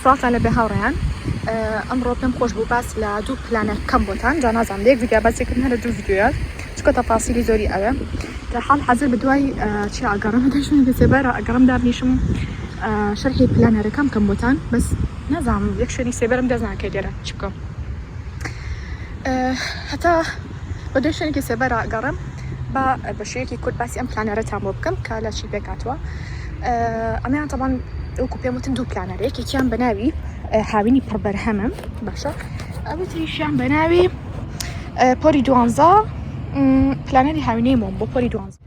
سڵاوتان لێبێ هاوڕێیان ئەمڕۆ پێم خۆش بوو باس لە دوو پلانە کەم بۆتان جا نازان لە یەک ڤیدیا باسێکرد هەرە دوو ڤیددیوە چکە تەفاسیلی زۆری ئەوێ لە حال حەزر بە دوای چی ئاگەڕم دەشوێن دەسێبەرە ئەگەڕم دابنیشم شەرحی پلانەرەکەم کەم بۆتان بەس نازانم یەک شوێنی سێبەرم دەست ناکەی لێرە چ بکەم هەتا بە دوای شوێنێکی سێبەر گەڕێم با بە شێوەیەکی کورت باسی ئەم پلانەرەتان بۆ بکەم کە لە چی پێکاتوە ئەمیان تەبان ئەوکو پێم وتن دوو پلانەر یەکێکیان بەناوی هاوینی پڕبەرهەمم باشە ئەوی تریشیان بەناوی پۆری دوانزە پلانەری هاوینەی مۆم بۆ پۆری دوانزە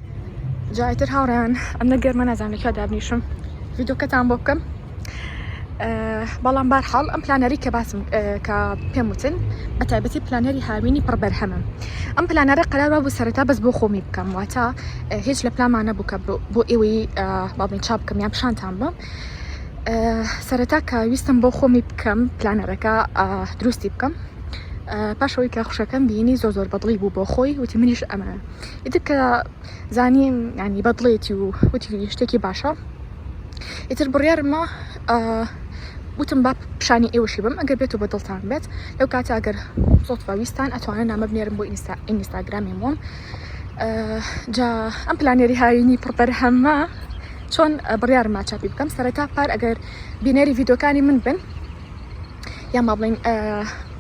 جایتر هاوڕێیان ئەم نە گەرمە نازانم لە کیا دابنیشم ڤیدۆکەتان بۆ بکەم بەڵام بار حاڵ ئەم پلانەری کە باسم کە پێم وتن بە تایبەتی پلانەری هاوینی پڕ بەرهەمم ئەم پلانەرە قەرار بوو سەرەتا بەس بۆ خۆمی بکەم واتە هیچ لە پلامانە بووکە بۆ ئێوەی باڵین چاپ بکەم یان پیشانتان بم سەرەتا کە ویستم بۆ خۆمی بکەم پلانەرەکە دروستی بکەم پاشەوەی کە خوشەکەم بینی زۆ زۆر بەدڵی بوو بۆ خۆی وتی منیش ئەمە ئیتر کە زانیم یانی بەدڵێتی و وتی شتێکی باشە ئیتر بڕیارمە وتم با پیشانی ئێوەشی بم ئەگەر بێت و بە دڵتان بێت لەو کاتە ئەگەر زۆت ویستان ئەتوانە نامە بنێرم بۆ ئینستا ئینستاگرامی مۆم جا ئەم پلانێری هاوینی پڕبەر هەمە چۆن بڕیارمە چاپی بکەم سەرەتا پار ئەگەر بینەری ڤیدۆکانی من بن یا ما بڵین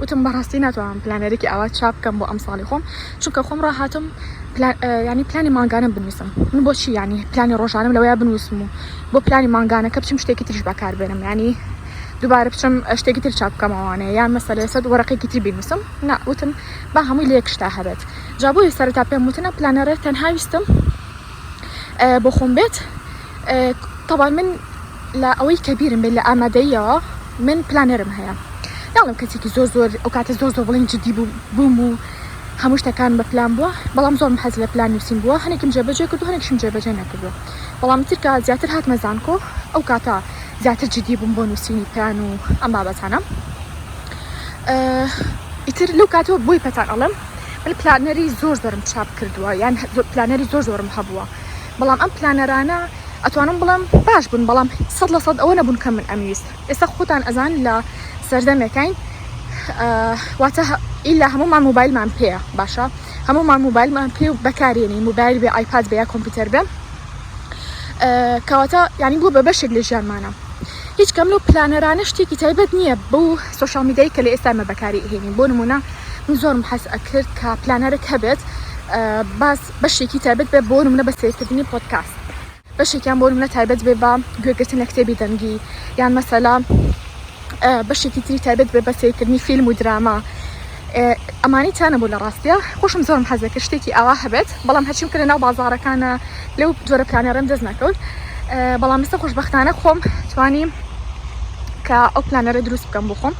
وتم بەڕاستی ناتوانم پلانێرێکی ئاوا چاپ بکەم بۆ ئەمساڵی خۆم چونکە خۆم ڕاهاتم ینی پلانی مانگانم بنووسم من بۆچی ینی پلانی ڕۆژانم لەوەیە بنووسم و بۆ پلانی مانگانەکە بچم شتێکی تریش بەکار بێنم ینی دووبارە بچم شتێکی تر چاپ بکەمەوانێ یان مەسەلە سەد وەرەقێکی تری بنووسم ناوتم با هەمووی لە یەکشتا هەبێت جابووی سەرتا پێم وتنە پلانەرە تەنهاویستم بۆخۆم بێت تەوان من لە ئەوەی کە بیرم بێت لە ئامادەیەوە من پلانەرم هەیە ناڵم کەسێکی زۆر زۆر ئەو کاتە زۆر زۆر بڵین جدی بوو بووم و هەموو شتەکان بە پلان بووە بەڵام زۆر حەز لە پلان نووسین بووە هەنێکم جێبەجێ کردو هەنێکشم جێبەجێ نەکردو بەڵام ترکە زیاتر هاتمە زانکۆ ئەو کاتە زیاتر جدی بووم بۆ نووسینی پلان و ئەم بابەتانە ئیتر لەو کاتەوە بۆی پەتان ئەڵم من پلانەری زۆر زۆرم چاپ کردووە یان پلانەری زۆر زۆرم هەبووە بەڵام ئەم پلانەرانە ئەتوانم بڵم باش بوون بەڵام سەد لە سەد ئەوە نەبوون کە من ئەمویست ئێستا خۆتان ئەزان لە سەردەمێکین واتە ئیلا هەمومان موبایلمان پێە باشە هەمومان موبایلمان پێ و بەکارێنی موبایل بێ ئایپاد بێ یا کۆمپیوتەر بێ کەواتە ینی بوو بە بەشێک لە ژیانمانە هیچ کەم لەو پلانەرانە شتێکی تایبەت نییە بەو سۆشیال میدیایی کە لە ئێستا ئێمە بەکاری ئەهێنین بۆ نموونە من زۆرم حەز ئەکرد کە پلانەرێک هەبێت باس بەشێکی تایبەت بێ بۆ نمونە بە سیرکردنی پۆتکاست بەشێکیان بۆ نمونە تایبەت بێ بە گوێگرتن لە کتێبی دەنگی یان مەسەلا بەشێکی تری تایبەت بێ بە سیرکردنی فیلم و دراما ئەمانەی تیا نەبوو لە ڕاستیا خۆشم زۆرم حەزێ کە شتێکی ئاوا هەبێت بەڵام هەرچیم کە لە ناو بازارەکانە لەو جۆرە پلانێڕم دەست نەکەوت بەڵام ئێستا خۆشببختانە خۆم توانی کە ئەو پلانەرە دروست بکەم بۆ خۆم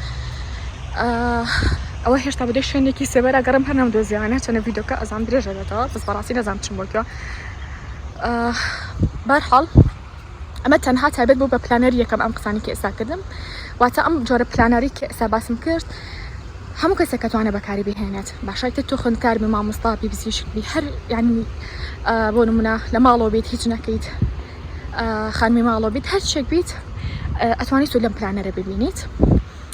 ئەوە هێشتا بدە شوێنێکی سێبەرە گەڕم هەر نەم دۆزیانە چەنە ویدۆکە ئەزان درێژە بێتەوە بەس بەڕاستی نەزان چم بۆ بارحاڵ ئەمە تەنها تایبەت بوو بە پلانەری یەکەم ئەم قسانی کە ئێستا کردم واتە ئەم جۆرە پلانەری کە ئێستا باسم کرد هەموو کەسێک کە توانێ بەکاری بهێنێت باشای تر تۆ خوێندکار بی مامۆستا بی بزیشک بی هەر یعنی بۆ نمونە لە ماڵەوە بیت هیچ نەکەیت خانمی ماڵەوە بیت هەر شتێک بیت ئەتوانیت و لەم پلانەرە ببینیت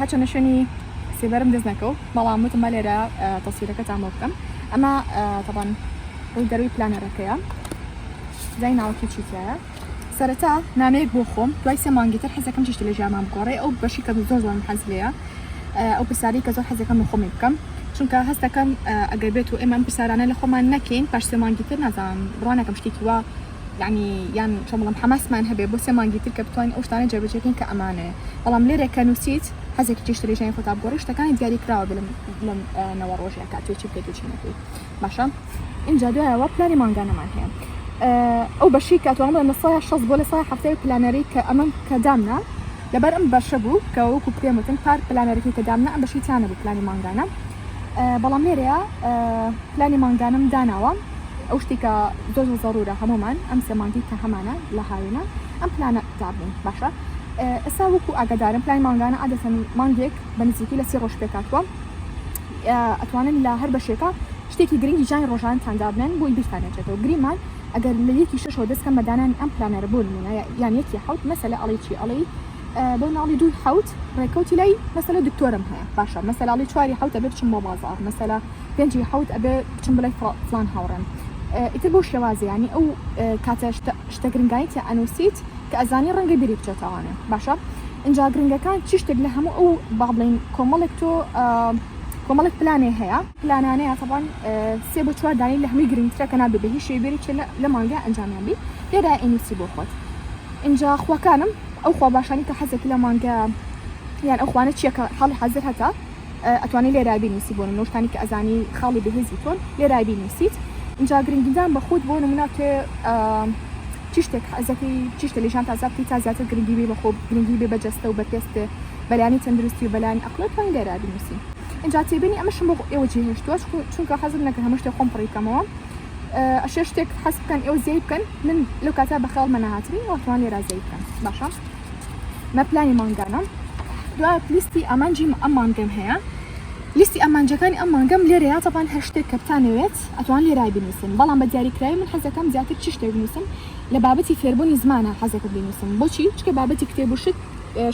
هەرچەندە شوێنی سێبەرم دەست نەکەوت بەڵام وتم بە لێرە تەسویرەکەتان بۆ بکەم ئەمە تەبان ڕووی دەروی پلانەرەکەیە زای ناوەکە چیتیایە سەرەتا نامەیەک بۆ خۆم دوای سێ مانگی تر حەزەکەم چشتی لە ژیامان بگۆڕێ ئەو بەشی کە زۆر زۆر حەز لەیە ئەو پرسیاری کە زۆر حەزەکەم بە خۆمی بکەم چونکە هەستەکەم ئەگەر بێت و ئێمەم پرسیارانە لە خۆمان نەکەین پاش سێ مانگی تر نازانم بڕوانەکەم شتێکی وا یەعنی یان چۆن بڵێم حەماسمان هەبێ بۆ سێ مانگی تر کە بتوانین ئەو شتانە جێبەجێ بکەین کە ئەمانەیە بەڵام لێرێ کە نووسیت حەزێکی چێشتە لە ژیانی خۆتا بگۆڕی شتەکانی دیاری کراوە بێ لەم نەوە ڕۆژەیە کە ئەتوێ چی بکەیت و چی نەکەیت باشە ئینجا دوایەوە پلانی مانگانەمان هەیە ئەو بەشی کە توانم بڵێم لە سایە شەست بۆ لە سایە هەفتەیە پلانەرەی کە ئەمەم کە دامنا لەبەر ئەم بەشە بوو کە وەکو پێم وتن پار پلانەرەکەی کە دامنا ئەم بەشی تیانە بوو پلانی مانگانە بەڵام لێرەیا پلانی مانگانەم داناوە ئەو شتی کە زۆر زۆر زەڕورە هەمومان ئەم سێ مانگی کە هەمانە لە هاوێنە ئەم پلانە دابنێن باشە ئێستا وەکو ئاگادارم پلانی مانگانە عادەتەن مانگێک بە نزیکی لە سی ڕۆژ پێکاتوە ئەتوانن لە هەر بەشێکە شتێکی گرنگی جانی ڕۆژانتان دابنێن بۆی بیرتانێتێتەوە گریمان ئەگەر لە یەکی شەشەوە دەستکەم بەدانانی ئەم پلانەرە بۆ نمونە یان یەکی حوت مەسەلە ئەڵی چی ئەڵی بۆ ناڵی دووی حوت ڕێکەوتی لای مەسەلە دکتۆرم هەیە باشە مەسەلاڵی چواری حوت ئەبێ بچم بۆ بازار مەسەلا پێنجی حوت ئەبێ بچم بڵێ فلان هاوڕێم ئیتر بۆ شێوازیانی ئەو کاتە شتە گرنگانی تیا ئەنووسیت کە ئەزانی ڕەنگە بیری بچێتەوانێ باشە ئینجا گرنگەکان چی شتێک لە هەموو ئەو باڵین کۆمەڵێک تۆ کۆمەڵێک پلانێ هەیە پلانانەیە تەبان سێ بە چوار دانی لە هەمووی گرنگترە کە نابێ بە هیچ شێبێری لە مانگە ئەنجامیان بی لێرا ئینوسی بۆ خۆت اینجا خوەکانم ئەو خوا باشانی کە حەزەکی لە مانگە یان ئەو خوانە چیە کە حاڵی حازر هەتە ئەتوانی لێرای بینوسی بۆ نمونەشتانی کە ئەزانی خاڵی بەهێزی تۆن لێرای بینوسیت اینجا گرنگیدان بە خۆت بۆ نمونە تێ چی شتێک حەزەکەی چی شتە لەژان تازا بکەی تا زیاتر گرنگی بێ بە خۆ گرنگی بێ بە جەستە و بە پێستێ بەلانی تەندروستی و بەلانی ئەقلت توانی لێرای بینوسی اینجا تێبینی ئەمەشم بۆ ئێوە جێهێشتووە چونکە حەزم نەکە هەمە شتێک خۆم پڕی بکەمەوە ئەشێ شتێک حەز بکەن ئێوە زیای بکەن من لەو کاتە بە خەیاڵمە نەهاتبی ئەوە توان لێرا زەی بکەم باشە مە پلانی مانگانەم دوای پلیستی ئامانجی ئەم مانگەم هەیە لیستی ئامانجەکانی ئەم مانگەم لێرە یا تەپان هەر شتێک کە بتانەوێت ئەتوان لێرای بنووسن بەڵام بە دیاریکراوی من حەزەکەم زیاتر چی شتێک بنووسم لە بابەتی فێربوونی زمانە حەزەکە بنووسم بۆچی چکە بابەتی کتێب و شت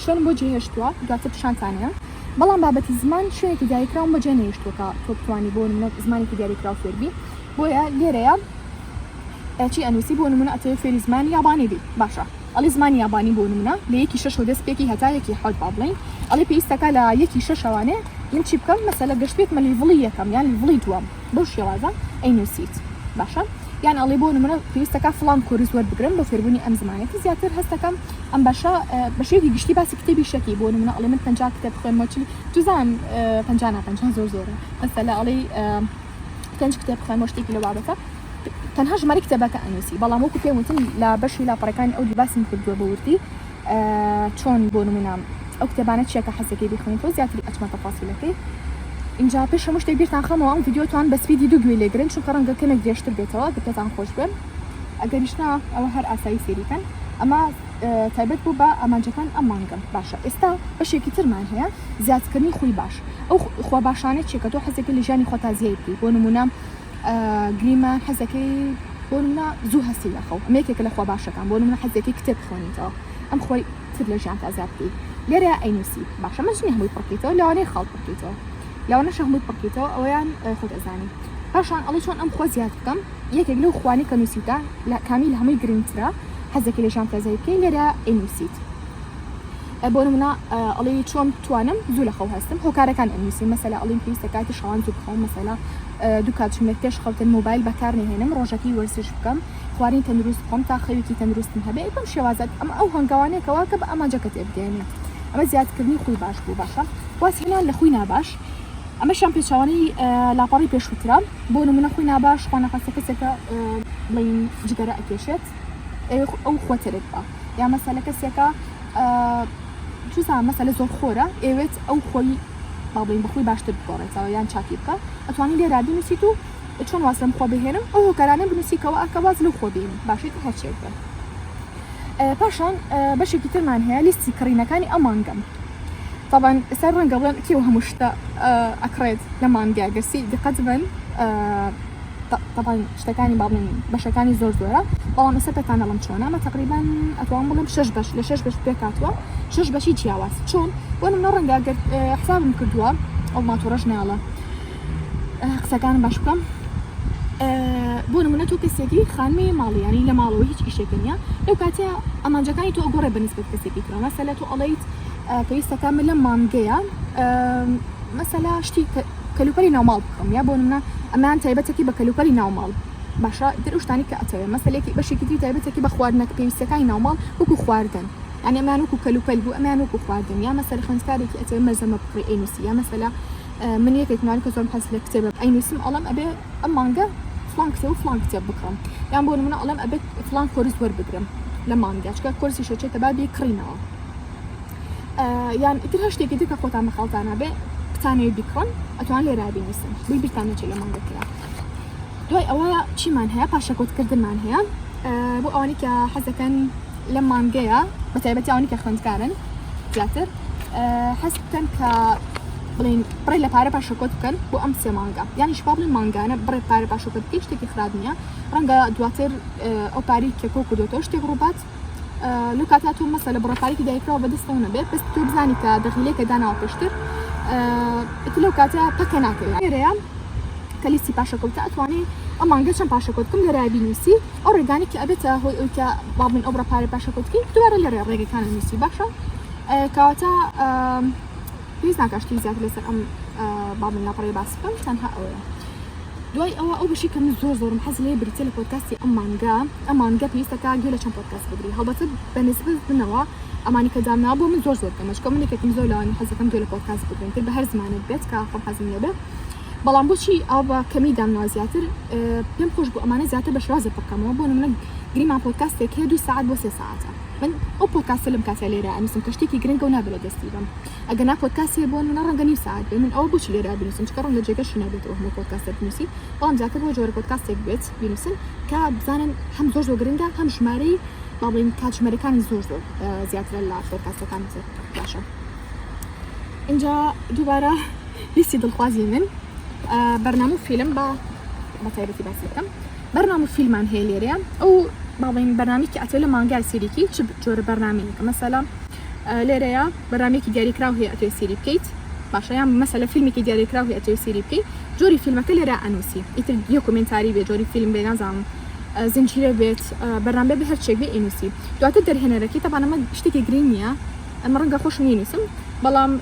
شوێن بۆ جێهێشتووە دواتر پیشانتانەیە بەڵام بابەتی زمان شوێنێکی دیاریکراوم بەجێ نێشتوەکە تۆ بتوانانی بۆ زمانێکی دیاریکراو فێربی بۆیە لێرەیە چی ئەنوسی بۆ نمونە ئەتەوێ فێری زمانی یابانی بی باشە ئەڵێ زمانی یابانی بۆ نمونە لە یەکی شەش و دەست پێکی هەتا یەکی حەوت با بڵێین ئەڵێ پێویستەکە لە یەکی شەشەوانێ من چی بکەم مەسەلە گەشت بێتمە لیڤڵی یەکەم یان لیڤڵی دووەم بەو شێوازە ئەینوسیت باشە یان ئەڵێ بۆ نمونە پێویستەکە فڵان کۆرس وەربگرم بۆ فێربوونی ئەم زمانەتی زیاتر هەستەکەم ئەم باشە بە شێوی گشتی باسی کتێبی شەکی بۆ نمونە ئەڵێ من پنج کتێب خوێنمەوە چلی دوزان پنج پنج زۆر زۆرە مەسەلە ئەڵێ پێنج کتێب خوێنمەوە شتێکی لە بابەتە تەنها ژمارەی کتێبەکە ئەنووسی بەڵام وەکو پێم وتن لە بەشی لاپەڕەکانی ئەو دووباسم کردووە بە وردی چۆن بۆ نمونام ئەو کتێبانە چیەکە حەزەکەی بیخوێن تۆ زیاتری ئەچمە تەفاسیلەکەی اینجا پێش هەموو شتێک بیرتان خەمەوە ئەم ڤیددیوتان بە سپیدی دوو گوێ لێگرن چونکە ڕەنگە کەمێک درێژتر بێتەوە کە پێتان خۆش بێن ئەگەریشنا ئەوە هەر ئاسایی سێریکەن ئەمە تایبەت بوو بە ئامانجەکان ئەم مانگەم باشە ئێستا بەشێکی ترمان هەیە زیادکردنی خوی باش ئەو خوا باشانە چێکە تۆ حەزێکی لە ژیانی خۆتازیایی بکەیت بۆ نمونام گریمان حەزەکەی بۆ نمونە زوو هەستی لە خەو ئەمە یەکێکە لە خوا باشەکان بۆ نمونە حەزێکی کتێب بخوێنیتەوە ئەم خۆی تر لە ژیان تا زیاد بکەیت لێرە ئەینوسی باشە من ژنی هەمووی پڕکەیتەوە لەوانەیە خاڵ پڕکەیتەوە لەوانەش هەمووی پڕکەیتەوە ئەویان خۆت ئەزانی پاشان ئەڵی چۆن ئەم خۆ زیاد بکەم یەکێک لەو خوانی کە نووسیتە لە کامیل هەمووی گرنگترە حەزێکی لە ژیان تازای بکەین لێرە ئەینوسیت بۆ نمونە ئەڵی چۆن توانم زوو لە خەو هەستم هۆکارەکان ئەنووسی مەسەلا ئەڵین پێویستە کاتی شەوان زوو بخەوم مەسەلا دوو کاتژمێر پێش خەوتن مۆبایل بەکار نهێنم ڕۆژەکەی وەرزش بکەم خواردنی تەندروست بخۆم تا خەوێکی تەندروستم هەبێت بەم شێوازات ئەمە ئەو هەنگاوانێکەوە کە بە ئامانجەکە تێبگەێنێت ئەمە زیادکردنی خوی باش بوو باشە واسهێنان لە خوی ناباش ئەمەشان پێچوانی لاپەڕی پێشوترا بۆ نمونە خوی ناباش خوانەخواستە کەسێکە بڵین جگەرە ئەکێشێت ئەو خۆتەرێک بە یا مەسەلە کەسێکە چزان مەسەلە زۆر خۆرە ئەوێت ئەو خۆی با بڵێین بەخۆی باشتر بگۆڕێتەوە یان چاکی بکا ئەتوانی لێرا بنووسیت و چۆن واز لەم خۆ بهێنم ئەو هۆکارانە بنووسیکەوە ئەکە واز لەو خۆ بێنی باشێت هەرچێک بن پاشان بەشێکی ترمان هەیە لیستی کڕینەکانی ئەو مانگەم طبعا ئێستا ڕەنگە بڵێن کێ هەموو شتە ئەکڕێت لە مانگە گەرسی دقەت بن طبعا شتەکانی باڵین بەشەکانی زۆر زۆرە بەڵام ئێستا پێتان نەڵم چۆنە ئەمە تقریبا ئەتوان بڵم شش بەش لە شش بەش پێکاتوە شش بەشی جیاواز چۆن بۆ منە ڕەنگە گەر حسابم کردووە ئەو ماتۆڕەش ناڵە قسەکان باش بکەم بۆ نمونە تۆ کەسێکی خانمی ماڵیانی لە ماڵەوە هیچ ئیشێکە نیە لەو کاتە ئەمانجەکانی تۆ گۆڕێ بەنسبەت کەسێکی ترەوە مەسەلە تۆ ئەڵیت پێویستەکە من لە مانگەیە مەسەلا شتی کەلوپەلی ناوماڵ بکڕم یا بۆ نمونە ئەمەیان تایبەتەکی بە کەلوپەلی ناوماڵ باشە ئیتر ئەو شتانەی کە ئەتەوێ مەسەلەکی بەشێکی تری تایبەتەکی بە خواردنەک پێویستەکانی ناوماڵ وەکو خواردن یانی ئەمیان وەکو کەلوپەل بوو ئەمیان وەکو خواردن یا مەسەلە خوێندکارێکی ئەتەوێ مەلزەمە بکڕی ئەینوسی یا مەسەلە من یەکێک نوان کە زۆرم حەز لە کتێبە ئەینوسم ئەڵم ئەبێ ئەم مانگە فلان کتێب و فلان کتێب بکڕم یان بۆ نمونە ئەڵم ئەبێت فلان کۆرس وەربگرم لە مانگەچکە کۆرسی شەچێتە بابی کڕینەوە یان ئیتر هەشتێکی تر کە خۆتان بەخەڵتان نابێ بتانەوی بیکڕن ئەتوان لێرا بینوسن بی بیرتان نەچێت لە مانگە کرا دوای ئەوە چیمان هەیە پاشەکۆتکردمان هەیە بۆ ئەوانی کە حەزەکەن لە مانگەیە بە تایبەتی ئەوانی کە خوێندکارن زیاتر حەز بکەن کە بڵین بڕێ لە پارە پاشەکۆت بکەن بۆ ئەم سێ مانگە یانیش پاڵی مانگانە بڕێ پارە پاشەکەت شتێکی خراپ نییە ڕەنگە دواتر ئەو پاری کە کۆ کردوەوە شتێک ڕووبات لو کاتا تۆ مەسە لە بڕەپارێکی دایکراوە بەدەستەوە نەبێ بەس تۆ بزانی کە دەغیلێکە داناوە پێشتر ئیتر لەو کاتە پەکە ناکەوێت لێرەیە کە لیستی پاشەکەوتە ئەتوانی ئەم مانگە چەند پاشەکەوت بکەم لێرە بینوسی ئەو ڕێگانی کە ئەبێتە هۆی ئەوی کە با من ئەو بڕەپارە پاشەکەوت بکەین دوبارە لێرە ڕێگەکانە نووسی باشە کەواتە پێویست ناکا شتی زیاتر لەسەر ئەم بابم لاپەڕەیە باس بکەم تەنها ئەوەیە دوای ئەوە ئەو بەشی کە من زۆر زۆرم حەز لێ بریتە لە پۆدکاستی ئەم مانگا ئەم مانگە پێویستەکە گوێ لە چەند پۆدکاست بگری هەڵبەتە بە نسبەت منەوە ئەمانی کە دامنا بۆ من زۆر زۆر کەمە چکۆ من یەکێکم زۆر لەوانی حەزەکەم گوێ لە پۆدکاست بگرم تر بە هەر زمانێک بێت کە خۆم حەزم لێ بێت بەڵام بۆچی ئەو بە کەمی دامنا زیاتر پێم خۆش بۆ ئەمانە زیاتر بە شرازە پڕکەمەوە بۆ نمونە گریمان پۆدکاستێک هەیە دوو ساعت بۆ سێ ساعتە من ئەو پۆدکاستە لەم کاتەی لێرە ئەنوسم کە شتێکی گرنگە و نابێ لە دەستی بەم ئەگەنا پۆدکاست هەیە بۆ نمونە ڕەنگە نیو سەعات بێ من ئەوە بۆچی لێرە بنوسم چونکە ڕەنگە جێگەشی نەبێتەوە هەموو پۆدکاستە بنوسی بەڵام جاکە بۆ جۆرە پۆدکاستێک بێت بنوسن کە بزانن هەم زۆر زۆر گرنگە هەم ژمارەی با بڵێین کاتژمێرەکانی زۆر زۆر زیاترە لە پۆدکاستەکانی تر باشە اینجا دووبارە لیستی دڵخوازی من بەرنامە و فیلم بە بە تایبەتی باسی بکەم بەرنامە و فیلمان هەیە لێرەیە ئەو باڵین بەرنمێکی ئەتێ لە مانگای سریکی چ جۆرە بەرنمەیەکە مەسەلا لێرەیە بەرامێکی دیاریکراو هەیە ئەتێ سری بکەیت باشەیان مەسە لە فیلمێکی دیاریکراو هەیە ئەتێ سری بکەیت جۆری فیلمەکە لێرە ئەنووسی ئیتر یە کومنتاری بێ جۆری فیلم بێ نازانم زنجیرە بێت بەرنامە بە هەرچێک بێ ئینوسی دواتر دەرهێنەرەکەی تەبانەمە شتێکی گرنگ نییە ئەمە ڕەنگە خۆش نینوسم بەڵام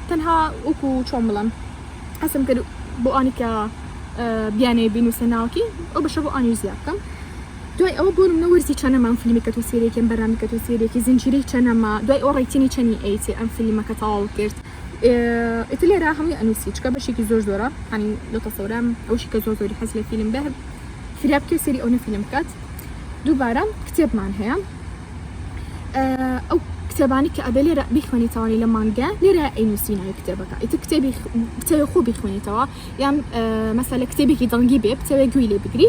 تەنها وەکو چۆن بڵم حەسم کرد بۆ ئانی کە بیانەیە بینوسە ناوەکەی ئەو بەشە بۆ ئانیزیا بکەم دوای ئەوە بۆ منە وەرزی چەنەمان فیلمی کە تۆ سێریەکەم بەرامی کە تۆ سێریەکی زنجیرەی چەنەما دوای ئەو ڕیتنی چەنی ئەیتی ئەم فیلمەکە تەواو کرد ئیت لێرا هەمووی ئەنووسی چکە بەشێکی زۆر زۆرە هەنی لە تەسەورام ئەوشی کە زۆر زۆری حەز لە فیلم بەر فریا بکە سری ئەو نەفیلم بکات دووبارە کتێبمان هەیە ئەو کتێبانی کە ئەبێ لێرە بیخوێنیتەوانی لە مانگە لێرە ئەینوسی ناوی کتێبەکە ئیتە کتێبی کتێبی خۆ بیخوێنیتەوە یان مەسەلە کتێبێکی دڵنگی بێ بتەوێ گوێی لێ بگری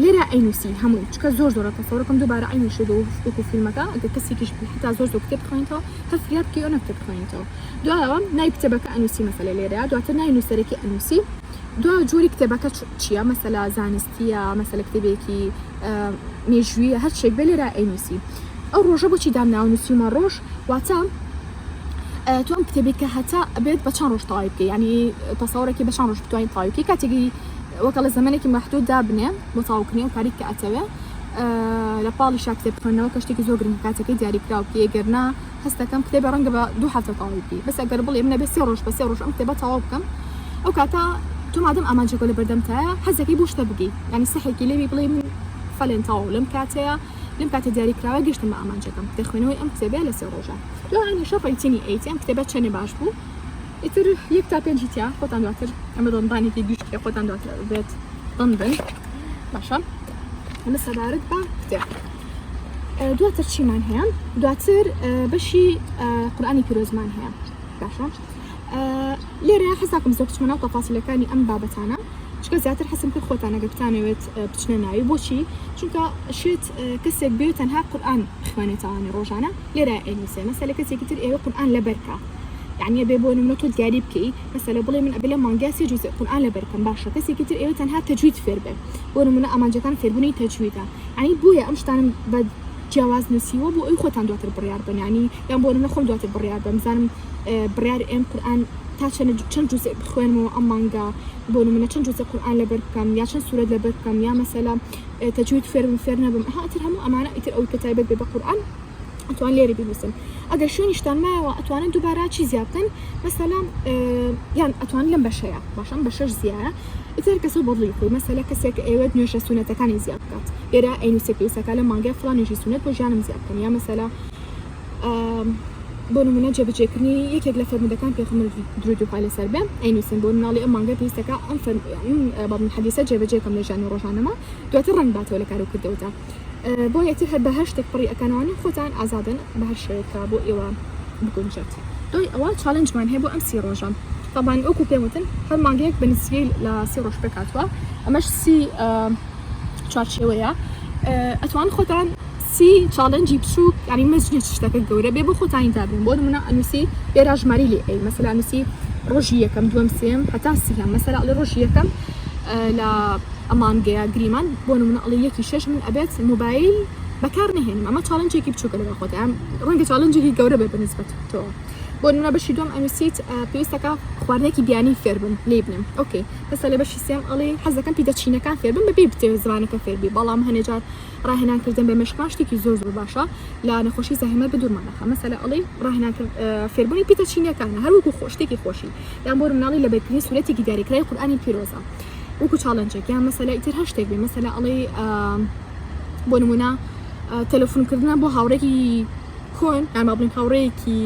لێرە ئەینوسی هەمووی چکە زۆر زۆرە تەسەورەکەم دووبارە ئەینی شێ وەکو فیلمەکە ئەگە کەسێکیش بی حتا زۆر زۆر کتێب بخوێنیتەوە هەر فریاد بکەی ئەو نەکتێب بخوێنیتەوە دوایەوە نای کتێبەکە ئەنوسی مەسەلە لێرە دواتر نای نووسەرێکی ئەنوسی دو جۆری کتێبەکە چییە مەسەلا زانستیە مەسەلە کتێبێکی مێژویە هەرچێک بێ لێرە ئەینوسی ئەو ڕۆژە بۆچی دامناوە نووسیمە ڕۆژ واتە تۆ ئەم کتێبی کە هەتا بێت بە چەند ڕۆژ تەواوی بکە ینی تەسەورێکی بە چەند ڕۆژ بتوانین تەواوی بکەی کاتێکی وەکەڵە زمانێکی مەحدود دابنێ بۆ تاوکردنی و کاری کە ئەتەوێ لە پاڵی شا کتێب خوێندنەوە کە شتێکی زۆر گرنگ کاتەکەی دیاریکراو بکە گەرنا هەستەکەم کتێبە ڕەنگە بە دوو هەفتە تەواوی بکەی بەس ئەگەر بڵێ منە بە سێ ڕۆژ بە سێ ڕۆژ ئەم کتێبە تەواو بکەم ئەو کاتە تۆ مادەم ئامانجەکە لە بەردەمتایە حەزەکەی بۆ شتە بگەی ینی سەحێکی لێوی بڵێ من فەلێن تەواو لەم کاتەیە لەم کاتە دیاریکراوە گەشتم بە ئامانجەکەم دەخوێنەوەی ئەم کتێبێ لە سێ ڕۆژە تۆ هەمیشە ڕەیتینی ئەیت ئەم کتێبە چەنێ باش بوو ئیتر یەک تا پێنجی تیا خۆتان دواتر ئەمە دۆنبانێکی گشتێ خۆتان دواتر بێت دەم بن باشە ئەمە سەبارەت بە کتێب دواتر چیمان هەیە دواتر بەشی قورآانی پیرۆزمان هەیە باشە لێرە حەساکم زۆر بچمە ناو تەپاسیلەکانی ئەم بابەتانە چکە زیاتر حەسم کرد خۆتانەگە بتانەوێت بچنە ناوی بۆچی چونکە شێت کەسێک بێت تەنها قورآان بخوێنێتوانێ ڕۆژانە لێرە ئەینوسێ مەسەلە کەسێکی تر ئێوە قورئان لەبەرکە یعنی ئەبێ بۆ نمونە تۆ دیاری بکەی مەسەلە بڵێ من ئەبێ لە مانگیا سێ جوزئ قورئان لە بەرکەم باشە کەسێکی تر ئێوە تەنها تەجوید فێر بێ بۆ نمونە ئامانجەکان فێربوونی تەجویدە یعنی بۆیە ئەم شتانم بە جیاواز نووسیوە بۆ ئەوی خۆتان دواتر بڕیار بن یعنی یان بۆ نمونە خۆم دواتر بڕیار بم بزانم بڕیار ئێم قورئان تا چەند چەند جوزئ بخوێنمەوە ئەم مانگا بۆ نمونە چەند جوزئ قورئان لەبەر بکەم یا چەند سورەت لەبەر بکەم یا مەسەلە تەجوید فێر بم فێر نەبم ئەها ئیتر هەموو ئەمانە ئیتر ئەوەی کە تایبەت بێ بە قورئان ئەتوان لێرە بینووسن ئەگەر شوێنیشتان مایەوە ئەتوانن دووبارە چی زیاد بکەن مەسەلا یان ئەتوان لەم بەشەیە باشم بە شەش زیایە ئیتر کەسە بەڵی خۆی مەسەلە کەسێک ئێوەت نوێژە سونەتەکانی زیاد بکات لێرە ئەینوسێ پێویستەکە لە مانگای فڵان نوێژی سونەت بۆ ژیانم زیاد بکەم یا مەسەلا بۆ نمونە جێبجێکردنی یەکێک لە فەرمودەکان پێخمر درودی خوا لەسەر بێ ئەینوسن بۆ مناڵی ئەم مانگە پێویستەکە ئەم بەڵم حەدیسە جێبجێکم لە ژیانی ڕۆژانەمە دواتر ڕنگ باتەوە لە کارو کردەوەدا بۆ یەتر هەر بە هەر شتێک پڕی ئەکانوانی خۆتان ئازادن بە هەر شوێکە بۆ ئێوە بگونجێت دوای ئەوە چاالنجمان هەیە بۆ ئەم سی ڕۆژە تاوان ئۆکو پێوتن هەر مانگەیەک بە نسیەی لە سی ڕۆژ پێکاتوە ئەمەش سی چوارچێوەیە ئەتوان خۆتان سی چاڵێنجی بچوک یانی مەزنیت شتەکە گەورە بێ بۆ خۆتانی دابنێن بۆ نمونە ئەنوسی ئێرا ژماری لێ ئەی مەسەلا نوسی ڕۆژی یەکەم دووەم سێم هەتا سیهەم مەسەلا ئەڵێ ڕۆژی یەکەم لە ئەمان گەیا گریمان بۆ نمونە ئەڵێ یەکی شەش من ئەبێت موبایل بەکار نهێنم ئەمە چاڵنجێکی بچووکە لەگەڵ خۆت ئەم ڕەنگە چاڵنجێکی گەورە بێ بەنسبەت تۆ بۆ نمونە بەشی دوم ئەنوسیت پێویستەکە خواردنێکی بیانی فێربم لێ بنێم ئۆکەی هەستا لە بەشی سێم ئەڵێ حەزەکەم پیدە چینەکان فێربم بەبێ بتێ زمانەکە فێربی بەڵام هەنێجار ڕاهێنان کردن بە مێشکمان شتێکی زۆر زۆر باشە لە نەخۆشی زەهمەر بدورمان نەخە مەسەلە ئەڵی ڕاهێنان کرد فێربوونی پیتە چینەکانە هەروەکو خۆشتێکی خۆشی یان بۆ مناڵی لە بەرکردنی سوورەتێکی دیاریکرای قورآانی پیرۆزە وەکو چاڵنجێک یان مەسەلە ئیتر هەر شتێک بێ مەسەلە ئەڵی بۆ نمونە تەلەفونکردنە بۆ هاوڕێکی کۆن ئەما بڵین هاوڕێکی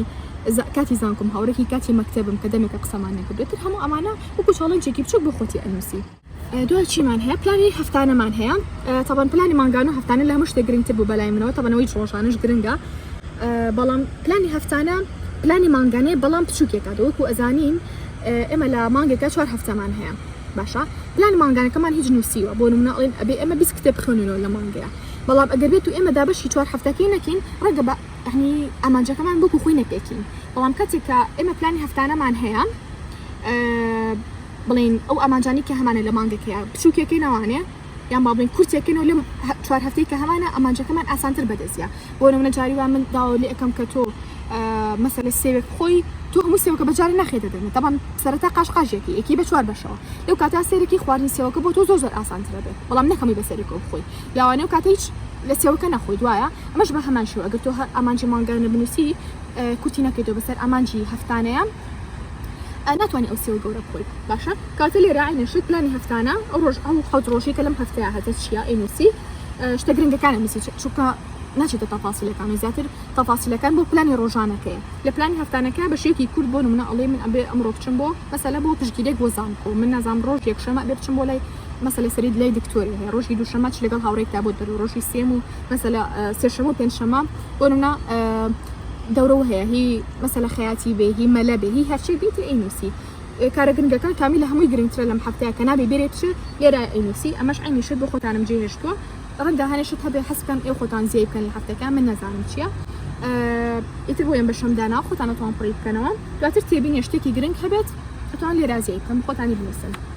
کاتی زانکم هاوڕێکی کاتی مەکتتەبم کە دەمێکە قسەمان نەکردێتتر هەموو ئەمانە وەکو چاڵنجێکی بچوک بۆ خۆتی ئەنووسی دوا چیمان هەیە پلانی هەفتانەمان هەیە تەبەن پلانی مانگانە هەفتانە لە هەموو شتێک گرنگتر بوو بەلای منەوە تەبەنەوەی ڕۆژانش گرنگە بەڵام پلانی هەفتانە پلانی مانگانەیە بەڵام بچووکێکە دەوەکو ئەزانین ئێمە لە مانگێکە چوار هەفتەمان هەیە باشە پلانی مانگانەکەمان هیچ نووسیوە بۆ منە ئەڵێن ئەبێ ئەمە بیست کتێب بخوێنەوە لە مانگەیە بەڵام ئەگەر بێت و ئێمە دابەشی چوار هەفتەکەی نەکەین ڕەگە بە ئەنی ئامانجەکەمان بکو خۆی نەپێکین بەڵام کاتێکە ئێمە پلانی هەفتانەمان هەیە بڵێین ئەو ئامانجانەی کە هەمانە لە مانگەکەیە بچووکێکەی ناوانێ یان با بڵێن کورتێکن و لەم چوار هەفتەی کە هەمانە ئەمانجەکەمان ئاسانتر بەدەستە بۆ نمونە جاری وا من داوا لێ ئەەکەم کە تۆ مەسەلە سێوێک خۆی تۆ هەموو سێوەکە بەجار ناخێتە دەمێ دەبان سەرەتا قاش قاژێکی یەکی بە چوار بەشەوە لەو کاتا سێرەکی خواردنی سێوەکە بۆ تۆ زۆر زۆر ئاسانترە بێت بەڵام نەکەمی بە سەرێکەوە بخۆی یاوانە و کاتە هیچ لە سێوەکە نەخۆی دوایە ئەمەش بە هەمان شێوە ئەگەر تۆ هەر ئامانجی مانگانە بنووسی کورتی نەکەیتەوە بەسەر ئامانجی هەفتانەیە ئا ناتوانی ئەو سێوە گەورە بخۆیت باشە کاتە لێرە عینە شت پلانی هەفتانە ئەو ڕۆژ ئەو حەوت ڕۆژی کە لەم هەفتەیە هەتە چیە ئەی نووسی شتە گرنگەکانە نووسی چونکە ناچێتە تەفاسیلەکان و زیاتر تەفاسیلەکان بۆ پلانی ڕۆژانەکەی لە پلانی هەفتانەکە بە شێوکی کورد بۆ منە ئەڵێ من ئەبێ ئەمڕۆ بچم بۆ مەسەلە بۆ پشگیرێک بۆ زانکۆ من نازام ڕۆژ یەکشەمە بێ بچم بۆ لای مەسەلە سەرید لای دکتۆری هەیە ڕۆژی دووشەمە چ لەگەڵ هاوڕێکتا بۆت دەرو ڕۆژی سێم و مەسەلە سێشەمە و پێنجشەمە بۆ نمونە دەورەوە هەیە هی مەسەلە خەیاتی بێ هی مەلە بێ هی هەرچی بیتی ئەی نووسی کارە گرنگەکان کامی لە هەمووی گرنگترە لەم هەفتەیە کە نابێ بێرێت چ لێرە ئەی نووسی ئەمەش ئەی نیشت بۆ خۆتانم جێ هێشتووە ڕەنگە هەنێشت هەبێ حەسکەم ئێ خۆتان زیای بکەن لە هەفتەکە من نەزانم چییە ئیتر بۆیان بە شەمدانا خۆتانەتوان پڕی بکەنەوە دواتر تێبینێ شتێکی گرنگ هەبێت ئەتوان لێرازیای بکەم خۆتانی بنووسن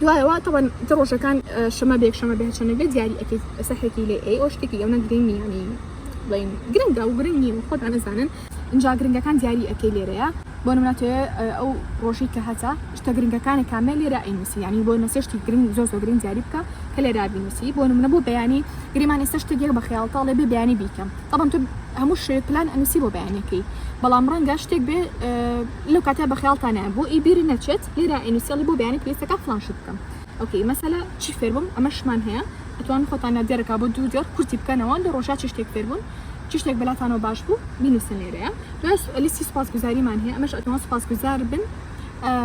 دوایەوە تەبەن تە ڕۆژەکان شەمە بێک شەمە بێ هەرچەنە بێ دیاری ئەکەیت سەحێکی لێ ئەی ئەو شتێکی ئەوە گرنگ نیانی بڵین گرنگە و گرنگ نییە خۆتان ئەزانن اینجا گرنگەکان دیاری ئەکەی لێرەیە بۆ نمونە توێ ئەو ڕۆژی کە هەتا شتە گرنگەکانی کامە لێرە ئەینوسی ینی بۆ نەسێشتی گرنگ زۆ زۆ گرنگ دیاری بکە کە لێرا بینوسی بۆ نمونە بۆ بەیانی گریمان ئێستا شتە گێک بە خیاڵتاڵێ بێ بیانی بیکەم تەڵم تو هەموو شێ پلان ئەنوسی بۆ بەیانەکەی بەڵام ڕەنگە شتێک بێ لەو کاتە بە خیاڵتانە بۆ ئیبیری نەچێت لێرە ئینوسیالی بۆ بەیانی پلەیستەکە فڵان شت بکەم ئۆکەی مەسەلە چی فێربم ئەمەشمان هەیە ئەتوان خۆتان نا دیارەکە بۆ دوو دیار کورتی بکەنەوە لە ڕۆژا چی شتێک فێربوون چی شتێک بەلاتانەوە باش بوو بینوسن لێرەیە دوای لیستی سوپاس گوزاریمان هەیە ئەمەش ئەتوان سوپاس گوزار بن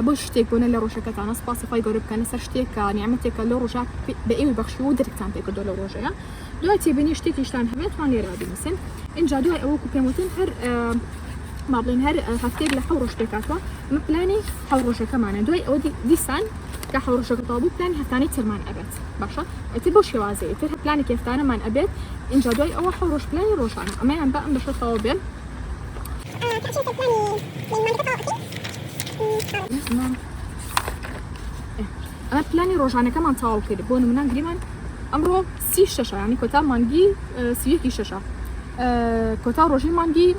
بۆ شتێک بۆنە لە ڕۆژەکەتانە سوپاسی خۆی گەورە بکەنە سەر شتێکە نیامەتێکە لە ڕۆژە بە ئێوەی بەخشی و درکتان پێکردۆ لە ڕۆژەیە دوای تێبینی شتێکیشتان هەبێت توان لێرا بینوسن اینجا دوای ئەوە کو پێم وتن هەر ما بڵێن هەر هەفتێک لە حەڕۆژ پێکاتوە ئەمە پلانی حەڕۆژەکەمانە دوای ئەو دیسان کە حەڕۆژەکە تابوو پلان هەفتانی ترمان ئەبێت باشە ئەتر بۆ شێوازی ئەتر هە پلانی کێفتانەمان ئەبێت اینجا دوای ئەوە حەڕۆژ پلانی ڕۆژانە ئەمەیان بە ئەم بەشە تەواو بێت Thank you. ئەمە پلانی ڕۆژانەکەمان تەواو کرد بۆ نمونە گریمان ئەمڕۆ سی شەشە ینی کۆتا مانگی سیەکی شەشە کۆتا ڕۆژی مانگی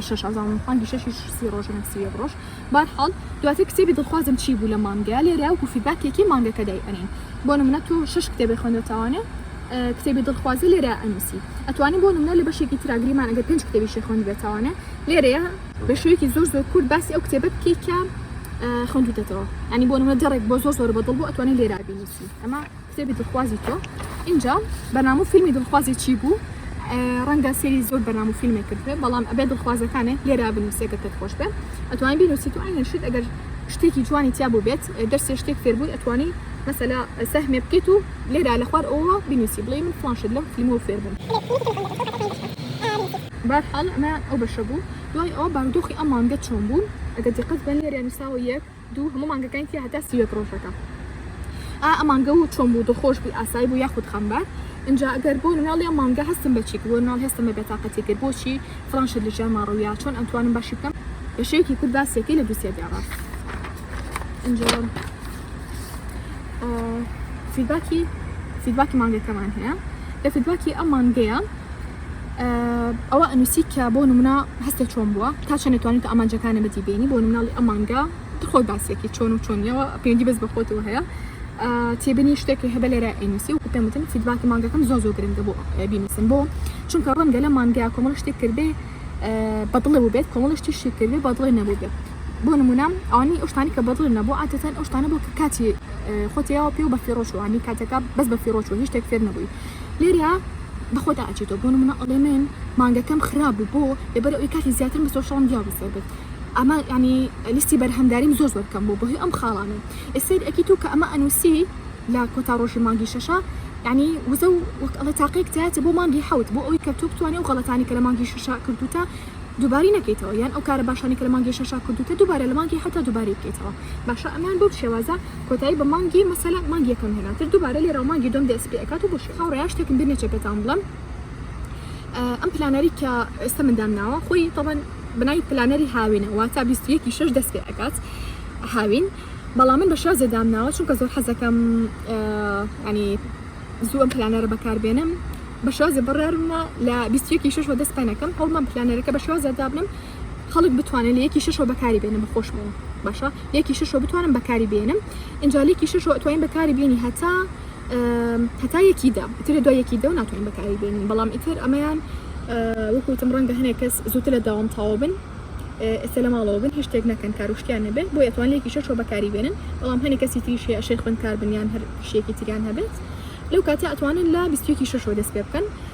شەشزانم مانگی شەشی سی ڕۆژنە سی ڕۆژ بار حاڵ دواتر کتێبی دڵخوازم چی بوو لە مانگە لێرە و فیباکێکی مانگەکە دای ئەنین بۆ نمونە تۆ شش کتێبی خوێندەتەوانێ کتێبی دڵخوازی لێرە ئەنووسی ئەتوانی بۆ نمونە لە بەشێکی تراگریمان ئەگەر پێنج کتێبی شێخۆند بێتوانێ لێرەیە بە شێوەیەکی زۆر زۆر کورت باسی ئەو کتێبە بکەیت کە خوێندوتەتەوە ئەنی بۆ نمە جەڕێک بۆ زۆر زۆر بەدڵ بۆ ئەتوانی لێرا بینیسی ئەمە کتێبی دڵخوازی تۆ اینجا بەنامە فیلمی دڵخوازی چی بوو ڕەنگە سری زۆر بەنام و فیلمێک کردێ بەڵام ئەبێ دڵخوازەکانێ لێرا بنووسێکە تر خۆش بێ ئەتوانین بینوسی تو ئاینەشیت ئەگەر شتێکی جوانی تیا بوو بێت دەرسێ شتێک فێربووی ئەتوانی مەسەلا سەهمێ بکەیت و لێرا لە خوار ئەوە بینوسی بڵێ من فلانشت لەم فیلمەوە فێربووم بەرحاڵ ئەمە ئەو بەشە بوو. دوای ئەوە بارودۆخی ئەم مانگە چۆن بوو؟ ئەگەر دیقەت بکەن لێرە نووسراوە یەک، دوو، هەموو مانگەکانی تیا هەتا سی و یەک ڕۆژەکە. ئا ئەم مانگە و چۆن بوو؟ دڵخۆش بووی؟ ئاسایی بوو یاخود خەمبار؟ ئینجا ئەگەر بۆ مناڵی ئەم مانگە هەستم بە چی کرد؟ بۆ مناڵ هەستم بە بێتاقەتی کرد؟ بۆچی فڵان شت لە ژیانما ڕوویا؟ چۆن ئەمتوانم باشی بکەم؟ بە شێوەیەکی کورت باسی یەکەی لە دووسێ دێڕە. ئینجا فیدباکی فیدباکی مانگەکەمان هەیە لە فیدباکی ئەم مانگەیە. ئەوە ئەنووسی کە بۆ نمونە هەستە چۆن بووە تا چەند توانیت ئامانجەکانی بەدی بینی بۆ مناڵی ئەمانگە خۆی باسیەکی چۆن و چۆنیەوە پێنجی بەس بەخۆتەوە هەیە تێبنی شتێکی هەبە لێرە ئەنووسی و پێمتن فیدباکی مانگەکەم زۆ زۆ گرنگە بۆ بینوسن بۆ چونکە ڕەنگە لە مانگە کۆمەڵ شتێک کردێ بەدڵێ بێت کۆمەڵ شتی شی کردێ بەدڵێ نەبوو بێت بۆ نمونام ئەوانی ئەوشتانی کە بەدڵ نەبوو عاتەن ئەوشتانە بۆ کە کاتی خۆتیەوە پێ و بەفیڕۆشوانی کاتەکە بەس بەفیڕۆچوە هیچ شتێک فێر نەبووی لێرە بە خۆتا ئەچیتەوە بۆ نمونە ئەڵێ من مانگەکەم خراپ بوو بۆ لەبەر ئەوی کاتی زیاترم بە سۆشڵم دیا بەسەر بێت ئەمە ینی لیستی بەرهەمداریم زۆر زۆر بکەم بۆ بۆ ئەم خاڵانە ئێسەر ئەکی تو کە ئەمە ئەنووسی لە کۆتا ڕۆژی مانگی شەشە ینی وزە و وەک ئەڵێ تاقیێک تاتە بۆ مانگی حوت بۆ ئەوی کە تو بتوانێت و غڵەتانی کە لە مانگی شەشە کردوتە دووباری نەکەیتەوە یان ئەو کارە باشانی کە لە مانگی شەشا کردوتە دووبارە لە مانگی حوتا دووباری بکەیتەوە باشە ئەمان بەو شێوازە کۆتایی بە مانگی مەسەلا مانگ یەکەم هێنا تر دووبارە لێرا مانگی دوم دەست پێ ئەکات و بۆشی هاوڕێیا شتێکم بیر نەچێت پێتان بڵم ئەم پلانەری کە ئێستا مندام ناوە خۆی تەبەن بنای پلانەری هاوینە واتا 21 شش دەست پێ ئەکات هاوین بەڵام من بە شێوە زێدام ناوە چونکە زۆر حەزەکەم ینی زوو ئەم پلانەرە بەکاربێنم بە شازە بڕارمە لە 21 شش وە دەست پێنەکەم هەڵمان پلانەرەکە بە شازە دابنم خەڵک بتوانێ لە یەکی شەشەوە بەکاری بێنێ بە خۆشمەوە باشە لێکی شەشەوە بتوانم بەکاری بێنم ئینجا لێکی شەشەوە ئەتوانین بەکاری بێنی هەتا هەتا یەکی دا ئیتر دوای یەکی دە و ناتوانین بەکاری بێنین بەڵام ئیتر ئەمەیان وەکوتم ڕەنگە هەنێک کەس زووتر لە داوام تاوە بن ئێستا لە ماڵەوە بن هیچ شتێک نەکەن کاروشتیان نەبێت بۆ ئەتوان لێکی شەشەوە بەکاری بێنن بەڵام هەنێک کەسی تریش هەیە شێ خوێندکار بنیان هەر شتێکی تریان هەبێت لەو کاتە ئەتوانن لە بیستێکی شەشەوە دەست پێ بکەن